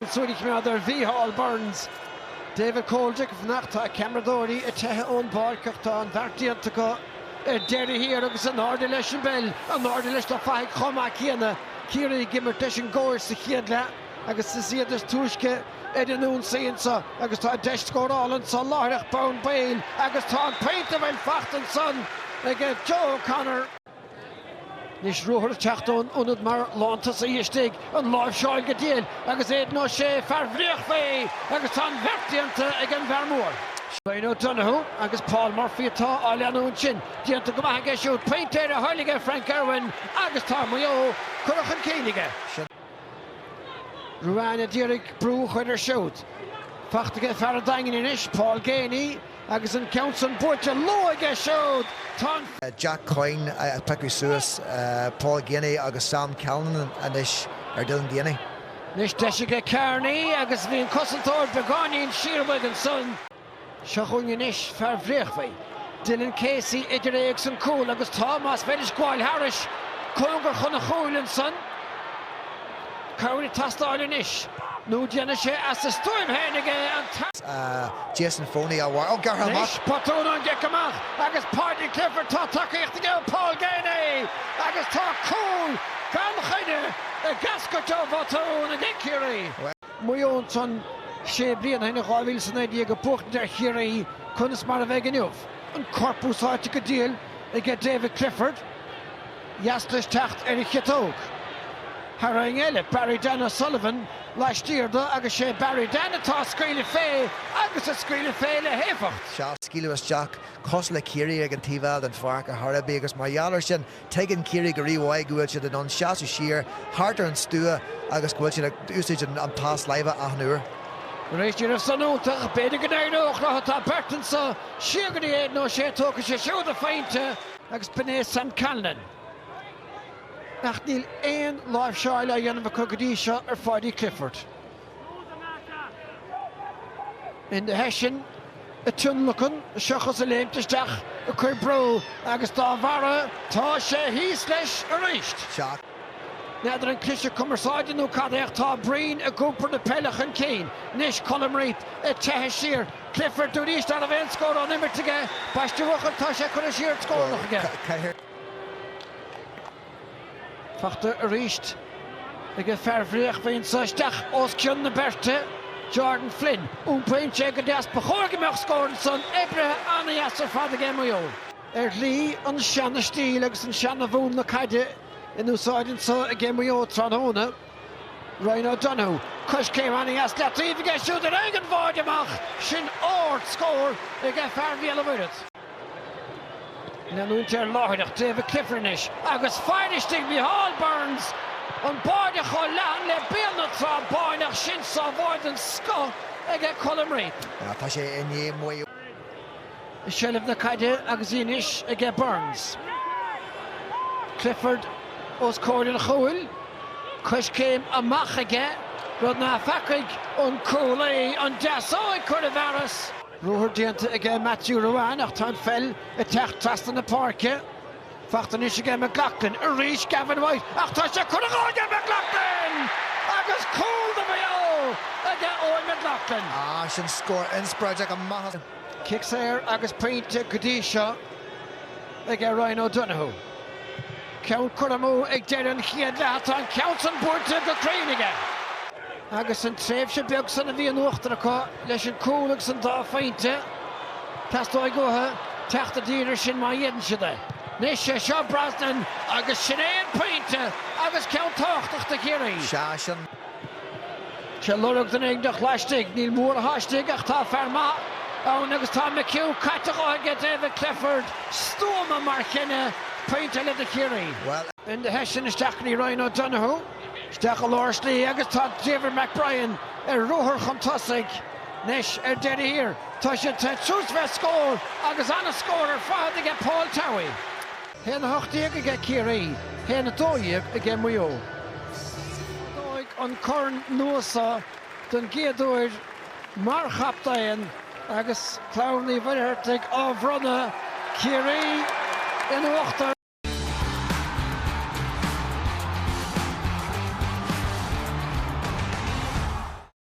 Súil a choimeád ar Mhícheál Burns. David Coldrick, ag fanacht, tá ceamaradóirí ag teitheadh ón bpáirc ach tá an bheart déanta acu ar deireadh thiar agus in airde leis an bpeil, in airde leis na fathaigh chomh maith céanna. Ciarraí ag imirt leis an gcóir sa chéad leath agus is iad is túisce ar an ionsaí anso agus tá deis scórála anso láithreach bonn baill agus tá an pointe bhuel fachta ansan ag Joe O'Connor. Anois ruathar ag teacht ón ionad mar lántosaí istigh, an láimhseáil go diail agus Aidan O'Shea, fear Bhréachmhaí, agus tá an bheart déanta ag an bhfear mór. Ryan O'Donoghue agus Paul Murphy atá á leanúint sin. Déanta go maith aige siúd, pointe ar a thoil aige Frank Irwin agus tá Maigh Eo curtha chun cinn aige. Ruane a d'iarraidh brú a chur air siúd. Fachta aige fear an Daingin anois, Paul Geaney, agus an ceann san buailte lú aige siúd. Tá Jack Coyne ag piocadh suas, Paul Geaney agus Sam Callanan anois ar Dylan Geaney. Anois deis aige Carney agus bhí an cosantóir beagáinín siar uaidh ansan. Seo chugainn anois fear Bhréachmhaí, Dylan Casey, idir é agus an cúl agus tá, más féidir gabháil thairis, cóngar chun an chúil ansan. Cabhair ag teastáil anois nó déanfaidh sé as a stuaim féin aige an Jason Foley á mharcáil, gearrtha amach. Anois botún ón gcic amach agus Paudie Clifford, tá tacaíocht aige ó Paul Geaney agus tá cúl gan choinne ag eascairt ó bhotún aige Ciarraí. Maigh Eo ansan sé bliana ó shin, in 2019, ag buachtaint ar Chiarraí conas mar a bheidh inniu an corp úsáidte go diail aige David Clifford, dheas leis teacht ar a chiotóg. Tarraingt eile, Barry Dan O'Sullivan laistiar de agus 'sé Barry Dan atá ag scaoileadh fé agus ag scaoileadh fé le héifeacht. Sea, scaoileadh isteach cosúil le Ciarraí ag an taobh eile den pháirc a thairbhí agus mar gheall air sin Tuigeann Ciarraí go rímhaith go bhfuil siad in ann seasamh siar thart ar an stua agus go bhfuil siad ag úsáid an pas láimhe achan uair. Tar éis déanamh sollúnta, ach b'fhéidir go n-éireodh leo, tá beirt anso siar go dtí Aidan O'Shea tógfaidh sé siúd a phointe, agus b'in é Sam Callanan, ach níl aon láimhseáil á dhéanamh acu go dtí seo ar Phaudie Clifford. Ina theannta sin, á thionlacan seachas ag léimt isteach ag cur brú agus dá bharra tá sé thíos leis arís. N'fheadar an cliseadh cumarsáide nó cad é ach tá Breen ag iompar na peile chun cinn anois, Colm Reape ag teitheadh siar, Clifford dúraís ná raibh aon scór ón imirt aige, ambaiste a bhuachaill tá sé curtha siar do scornach aige. Fachta arís aige fear Bhréachmhaí anso isteach os cionn na beirte, Jordan Flynn. Iompaíonn sé go deas, ba chóir go mbeadh scór ansan oibrithe an-deas ar fad ag Maigh Eo. Ar shlí an seana stíl agus an seana mhúnla caide in úsáid anso ag Maigh Eo tráthnóna. Ryan O'Donoghue, coiscéim ana-dheas i leataobh aige siúd ar aghaidh an bháide amach, sin ard scór ag fear Bhéal an Mhuirthead. Leanúint air láithreach David Clifford anois agus fear istigh Micheál Burns, an báide chomh leathan le Béal na Trá Báine ach sin sábháil den scoth aige Colm Reape. Tá sé i ndiaidh Maigh Eo. I seilbh na caide agus í anois aige Burns. Clifford os comhair an chúil. Coiscéim amach aige, rud nach bhfacaigh an cúlaí, an deasóg curtha i bhfearas. Ruathar déanta aige Matthew Ruane ach tá an pheil ag teacht trasna na páirce. Fachta anois aige McLaughlin. Arís Gavin White ach tá sé curtha dhó aige McLaughlin! Agus cúl do Mhaigh Eo aige Eoghan McLaughlin. Ah sin scór inspioráideach amach as. Cic saor agus pointe go dtí seo aige Ryan O'Donoghue. Ceann curtha amú ag deireadh an chéad leath, tá an ceann san buailte go cruinn aige. Agus an tréimhse beag san a bhí in uachtar acu leis an cúl agus an dá phointe, teastóidh uathu teacht i dtír ar sin má fhéadann siad é. Anois é seo Brosnan agus sin é an pointe agus ceann tábhachtach do Chiarraí. Sea, sin. Sé lorg duine éiginteach laistigh. Níl mórán istigh ach tá fear maith ann agus tá McHugh caite dhó aige, David Clifford. Stuama mar chinneadh. Pointe eile do Chiarraí. Enda Hession isteach go dtí Ryan O'Donoghue. Isteach i lár slí agus tá David McBrien ar ruathar chun tosaigh. Anois ar deireadh thiar tá siad te suas bheith scór agus an-scór ar fad aige Paul Towey. Haon a 18 aige Ciarraí, haon a 12 aige Maigh Eo. Ardóidh an corn nua so don gcéad uair mar chaptaen agus Clann Uí Mhuircheartaigh á bhronnadh Ciarraí in uachtar.